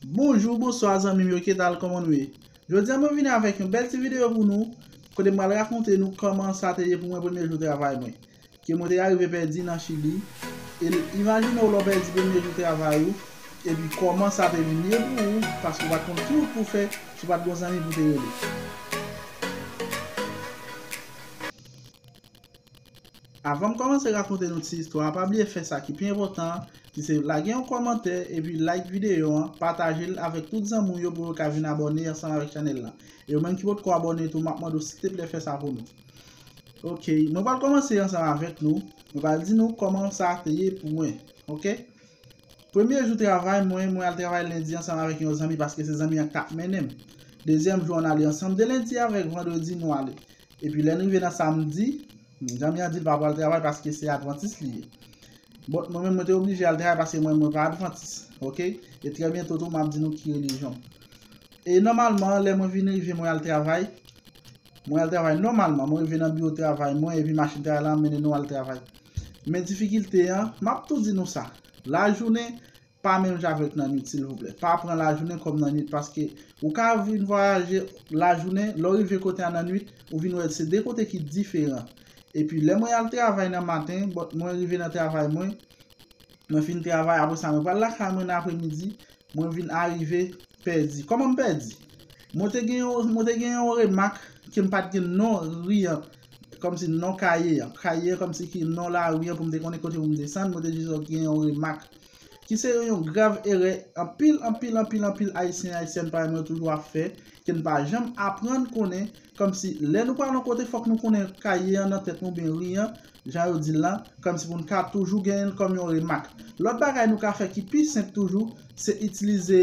Bonjou, bonswa zanmim yo kidal koman nou ye? Jodia mwen vini avèk yon bèl ti video pou nou kote mwen pral rakonte nou koman sa te ye pou mwen premye jou travay mwen ke mwen te arive pèdi nan chili e imajinew lèw pèdi premye jou travay ou epi koman sa te vin ye pou ou paske ou pat konn ki wout pou fè si ou pat gon zanmi pou te rele. Avanm kòmanse rakonte nou ti istwa a pa bliye fè sa ki pi enpòtan an ki se lage yon kòmantè epi like videyo an pataje l avèk tout zanmi w yo pou yo ka vin abòne ansanm avèk chanèl lan e yo menm ki potko abòne tou map mande w silteplè fè sa pou nou ok mwen pral kòmanse ansanm avèk nou mwen pral di nou kòman sa te ye pou mwen ok premye jou travay mwen mwen al travay lendi ansanm avèk yon zanmi paske se zanmi an k tap mennen m dezyèm jou an ale ansanm de lendi avèk vandredi nou ale Epi lè n rive nan samdi, Djanmi an di l pa pral travay paske se advantis li ye. Bon, mwen menm mwen te oblije al travay paske mwen mwen pa advantis. Ok? E trè byento tou m ap di nou ki relijyon m. E nòmalman lè mwen vin rive mwen al travay, mwen al travay nòmalman, mwen rive nan biwo travay mwen epi machin travay lan ap mennen nou al travay. Men difikilte an, m ap tou di nou sa, lajounen Pa melanje avèk nan nwit silvouplè. Pa pran lajounen kòm nan nwit paske ou ka vin vwayaje lajounen, lè w rive kote a nan nwit, ou vin wè se 2 kote ki diferan. Epi lè mwen al travay nan maten, bon mwen rive nan travay mwen, mwen fin travay apre sa mwen pral lakay mwen nan apremidi, mwen vin arive pèdi. Kòman m pèdi? Mwen te gen yon, mwen te gen yon remak ke m pa t gen non ri an, kòmsi non kaye an. Kaye an kòmsi ki non lari an pou m te konnen kote pou m desann, mwen te jis gen yon remak. ki se yon yon grav erè anpil anpil anpil anpil Ayisyen Ayisyèn parèy mwen yo toujou ap fè, ke n pa janm aprann konnen, kòmsi lè nou pral yon kote fòk nou konnen kaye an nan tèt nou oubyen ri an, jan yo di l lan, kòmsi pou n ka toujou genyen l kòm yon remak. Lòt bagay nou ka fè ki pi senp toujou, se itilize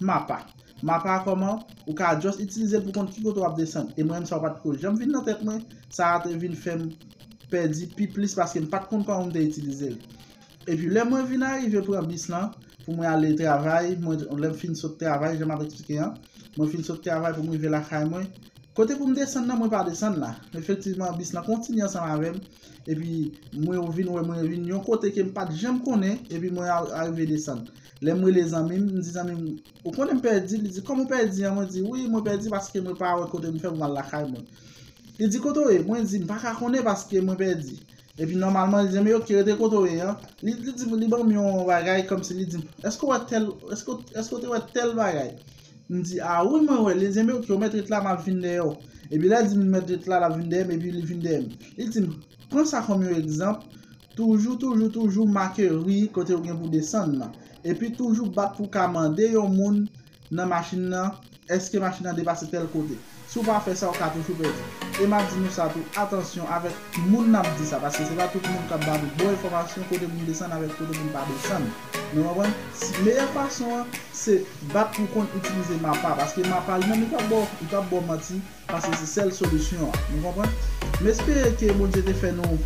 mapa. Mapa a kòman, ou ka just itilize l pou konn ki kote w ap desann. E mwen menm sa pa t ko janm vin nan tèt mwen, sa a te vin fè m pèdi pi plis paske m pa t konn kòman pou m te itilize l. Epi lè mwen vin arive pran bis lan pou mwen ale travay, mwen lè m fin sot travay jan m ap eksplike an, mwen fin sot travay pou m rive lakay mwen, kote pou m desann nan mwen pa desann la. Efektivman bis lan kontinye ansanm avè m epi mwen vin wè mwen vin yon kote ke m pa t janm konnen epi mwen arive desann. Lè m rele zanmi m, m di zanmi m, ou konnen m pèdi? Li di, kòman w pèdi an? Mwen di, wi mwen pèdi paske mwen pa wè kote m fè pou m al lakay mwen. Li di, kote w ye? Mwen di, m pa ka konnen paske mwen pèdi. Epi nòmalman li di m, ok rete kote w ye an. Li di m, li ban m yon bagay kòmsi li di m, èske w wè tèl, èske w te wè tèl bagay? M di, a wi mwen wè l. Li di m, ok ou mèt ret la m ap vin dèyè w. Epi lè l di m li mèt ret la, l ap vin dèyè m epi li vin dèyè m. Li di m, pran sa kòm yon egzanp, toujou toujou toujou make ri kote ou gen pou desann nan. Epi toujou bat pou w ka mande yon moun nan machin nan, èske machin nan depase tèl kote. Si w pa fè sa, w ka toujou pèdi. E m ap di nou sa tou, atansyon avèk moun n ap di sa, paske se pa tout moun k ap ba nou bon enfòmasyon kote pou n desann avèk kote pou n pa desann. Nou konprann? Meyè fason an, se bat pou w konn itilize mapa, paske mapa li menm li p ap ba w manti, Pase se sel solisyon an. Nou konprann? M espere ke Bondye te fè nou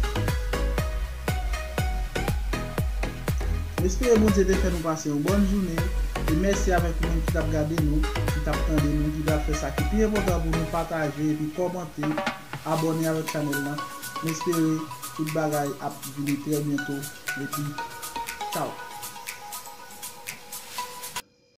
M espere Bondye te fè nou pase yon bòn jounen e mèsi avèk ou menm ki tap gade nou, ki tap tande nou, ki pral fè sa ki pi enpòtan pou nou pataje epi kòmante, abòne avèk chanèl lan. M espere tout bagay ap vini trè byento epi Tchaw!